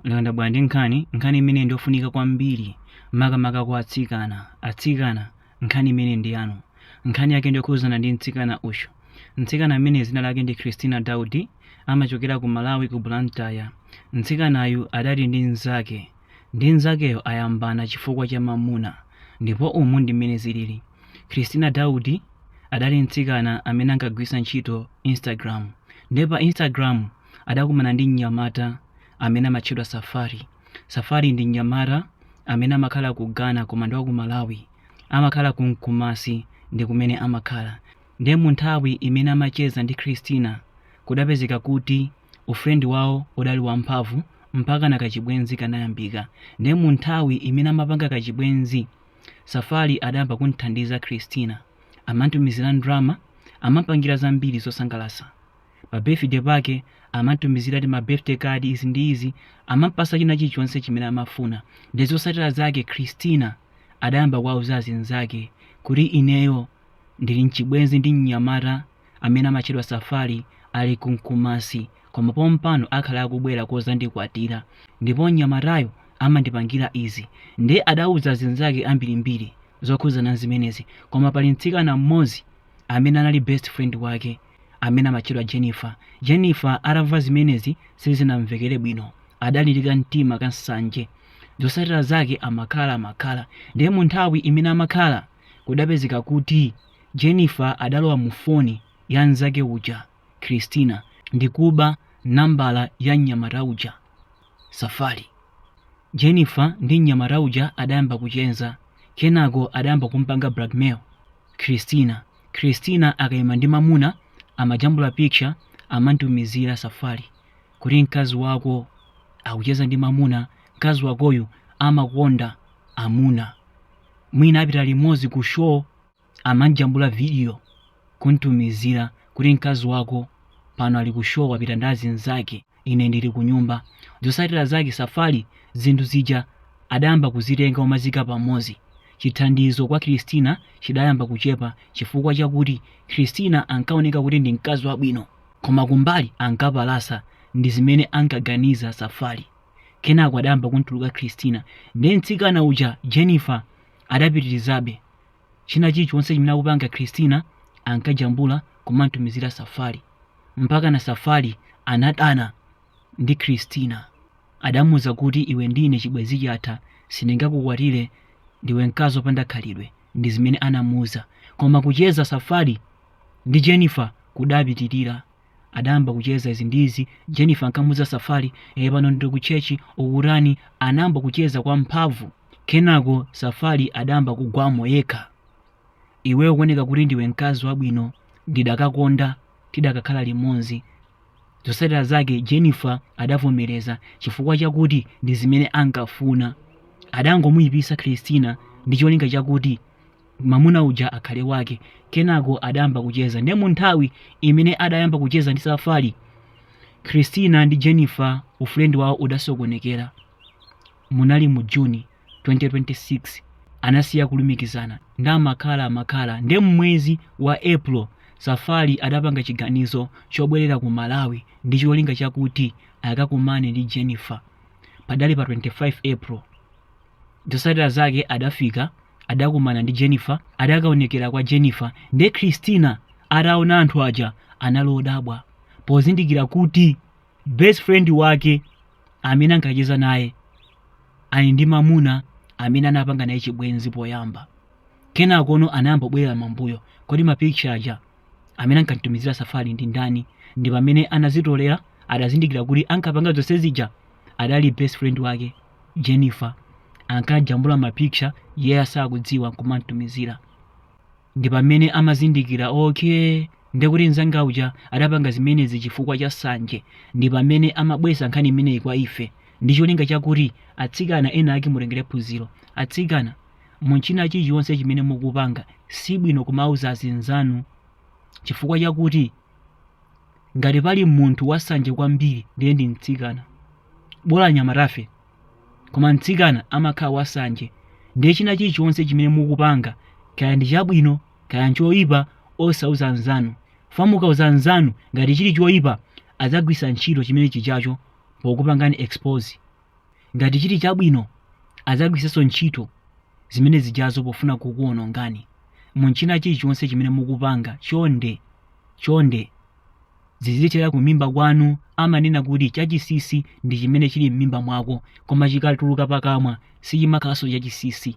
Nanga ndabwera ndi nkhani nkhani imene ndiyofunika kwambiri makamaka kwa atsikana atsikana nkhani imene ndi yanu nkhani yake ndiyokhudzana ndi mtsikana uyu mtsikana amene dzina lake ndi christina daudi amachokera ku malawi ku blantyre mtsikanayu adali ndi mnzake ndipo mnzakeyo ayambana chifukwa cha mamuna ndipo umu ndi mmene zilili christina daudi adali mtsikana amene ankagwiritsa ntchito instagram ndipo pa instagram adakumana ndi mnyamata amene amatchedwa Safari. Safari ndi mnyamata amene amakhala ku Ghana koma ndi wa ku Malawi. Amakhala ku Nkumasi ndi kumene amakhala. Ndiye mu nthawi imene amacheza ndi Christina, kudapezeka kuti ufrendi wawo udali wamphamvu mpakana kachibwenzi kanayambika. Ndiye mu nthawi imene amapanga kachibwenzi, Safari adayamba kumthandiza Christina. Amamtumizira ndalama, amampangira zambiri zosangalatsa. pa birthday pake amamtumizira ti ma birthday card izi ndi izi amampasa china chilichonse chimene amafuna ndi zosatira zake christina adayamba kuwauza azinzake kuti ineyo ndili mchibwenzi ndi mnyamata amene amatchedwa safari ali kunkumasi koma pompano akhala akubwera kuzandikwatira ndipo mnyamatayo amandipangira izi ndiye adauza azinzake ambirimbiri zokhuzana zimenezi koma pali mtsikana mmodzi amene anali best friend wake amene amatchedwa Jennifer. Jennifer atamva zimenezi sizinamvekere bwino, adali ndi kamtima ka nsanje. Zotsatira zake amakhala amakhala. Ndiye mu nthawi imene amakhala, kudapezeka kuti Jennifer adalowa mu foni ya mnzake uja, Christina, ndi kuba nambala ya mnyamata uja, Safari. Jennifer ndi mnyamata uja adayamba kucheza, kenako adayamba kumpanga blackmail. Christina Christina akaima ndi mamuna amajambula picture amamtumizira Safari kuti mkazi wako akucheza ndi mamuna mkazi wakoyu amakonda amuna mwina apita limodzi ku show amamjambula video kumtumizira kuti mkazi wako pano ali ku show wapita ndi azinzake ine ndili kunyumba. Zotsatira zake Safari zinthu zija adayamba kuzitenga n'kumaziika pamodzi. Chithandizo kwa Christina chidayamba kuchepa chifukwa chakuti Christina ankaoneka kuti ndi mkazi wabwino koma kumbali ankapalasa ndi zimene ankaganiza Safari. Kenako adayamba kumtuluka Christina. Ndiye mtsikana uja Jennifer adapitirizabe China chilichonse chimene akupanga Christina ankajambula kumamtumizira Safari. Mpakana Safari anadana ndi Christina. Adamuuza kuti iwe ndi ine chibwenzi chatha sindingakukwatire ndiwe mkazi opanda khalidwe ndi zimene anamuuza. Koma kucheza Safari ndi Jennifer kudapitirira. adayamba kucheza izi ndi izi jennifer ankamuuza safari ee pano ndili ku chechi ukutani anayamba kucheza kwa mphamvu kenako safari adayamba kugwamo yekha iweyo ukuoneka kuti ndiwe mkazi wabwino ndidakakonda tidakakhala limodzi zotsatira zake jennifer adavomereza chifukwa chakuti ndi zimene ankafuna adangomuyipisa christina ndi cholinga chakuti mamuna uja akhale wake kenako adayamba kucheza nde munthawi imene adayamba kucheza ndi safari christina ndi jennifer ufrendi wawo udasokonekera munali mu juni 2026 anasiya kulumikizana nde amakhala amakhala nde mmwezi wa april safari adapanga chiganizo chobwerera ku malawi ndi cholinga chakuti akakumane ndi jennifer padali pa 25 april Zotsatira zake adafika adakumana ndi Jennifer, adakaonekera kwa Jennifer nde Christina ataona anthu aja anali odabwa pozindikira kuti best friend wake amene ankacheza naye ali ndi mamuna amene anapanga naye chibwenzi poyamba. Kenakono anayamba kubwerera mambuyo kodi mapikitcha aja amene ankamutumizira Safari ndi ndani ndi pamene anazitolera adazindikira kuti ankapanga zonse zija adali best friend wake. Jennifer ankajambula mapikicha iyeyo asakudziwa n'kumamutumizira. Ndi pamene amazindikira, okay, ndekuti mnzanga uja adapanga zimenezi chifukwa cha nsanje. Ndi pamene amabweretsa nkhani imeneyi kwa ife ndi cholinga chakuti atsikana enaake mutengere phunziro. Atsikana, mu china chilichonse chimene mukupanga, si bwino kumauza azinzanu chifukwa chakuti ngati pali munthu wansanje kwambiri ndiye ndi mtsikana. bola anyamatafe koma mtsikana amakhala wasanje ndiye china chilichonse chimene mukupanga kaya ndi chabwino kaya nchoyipa osauza mnzanu chifukwa mukauza mnzanu ngati chili choyipa adzagwisa ntchito chimene chijacho pokupangani expose ngati chili chabwino adzagwisanso ntchito zimene zijazo pofuna kukuonongani munchina chilichonse chimene mukupanga chonde chonde zizithera kumimba kwanu amanena kuti chachisisi ndi chimene chili m'mimba mwako koma chikatuluka pakamwa sichimakhalanso chachisisi